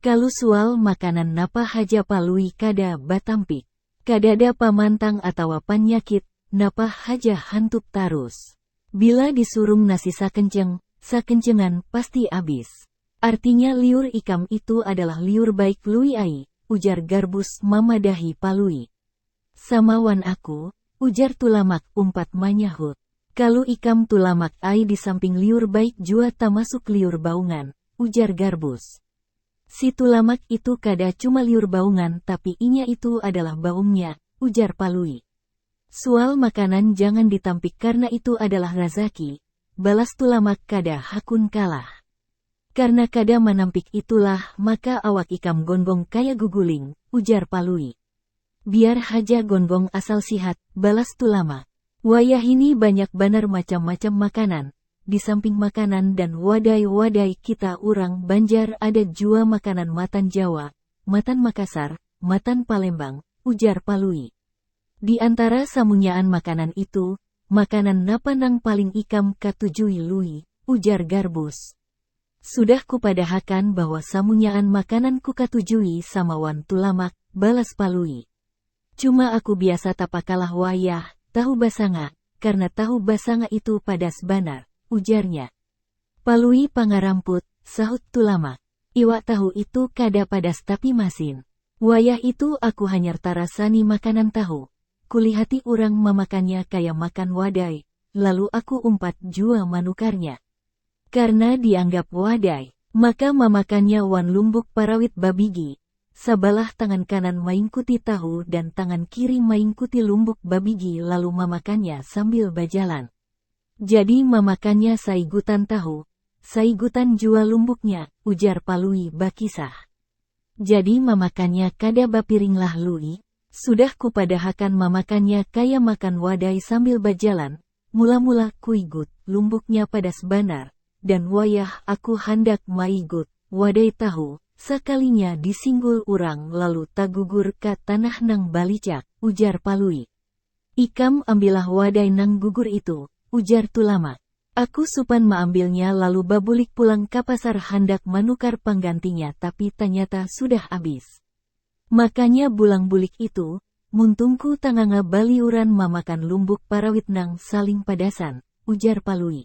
Kalu sual makanan napa haja Palui kada batampik. Kadada pamantang atawa panyakit, napa haja hantup tarus. Bila disurung nasi sakenceng, sakencengan pasti abis. Artinya liur ikam itu adalah liur baik Lui ai, ujar Garbus mamadahi Palui. Sama wan aku, ujar Tulamak umpat manyahut. Kalu ikam tulamak ai di samping liur baik jua tamasuk liur baungan, ujar Garbus. Si tulamak itu kada cuma liur baungan tapi inya itu adalah baungnya, ujar Palui. Sual makanan jangan ditampik karna itu adalah razaki, balas tulamak kada hakun kalah. Karna kada manampik itulah maka awak ikam gonggong kaya guguling, ujar Palui. Biar haja gonggong asal sihat, balas Tulamak. Wayahini banyak banar macam-macam makanan, di samping makanan dan wadai-wadai kita urang Banjar ada jua makanan matan Jawa, matan Makassar, matan Palembang, ujar Palui. Di antara samunyaan makanan itu, Makanan napa nang paling ikam katujui Lui? ujar Garbus. Sudah kupadahakan bahwa samunyaan makanan kukatujui sama wan Tulamak, balas Palui. Cuma aku biasa tapakalah wayah tahu basanga, karna tahu basanga itu padas banar, ujarnya. Palui pangaramput, sahut Tulamak. Iwak tahu itu kada padas tapi masin. Wayah itu aku hanyar tarasani makanan tahu, kulihati urang mamakannya kaya makan wadai, lalu aku umpat jua manukarnya. Karna dianggap wadai, maka mamakannya wan lumbuk parawit babigi, sabalah tangan kanan maingkuti tahu dan tangan kiri maingkuti lumbuk babigi lalu mamakannya sambil bajalan. Jadi mamakannya saigutan tahu, saigutan jua lumbuknya, ujar Palui bakisah. Jadi mamakannya kada bapiringlah Lui, sudah kupadahakan mamakannya kaya makan wadai sambil bajalan, mula-mula kuigut lumbuknya padas banar, dan wayah aku handak maigut wadai tahu, sakalinya disinggul urang lalu tagugur ka tanah nang balicak, ujar Palui. Ikam ambillah wadai nang gugur itu, ujar Tulamak. Aku supan maambilnya lalu babulik pulang ka pasar handak manukar panggantinya tapi tanyata sudah abis. Makanya bulang bulik itu, muntungku tanganga baliuran mamakan lumbuk parawit nang saling padasan, ujar Palui.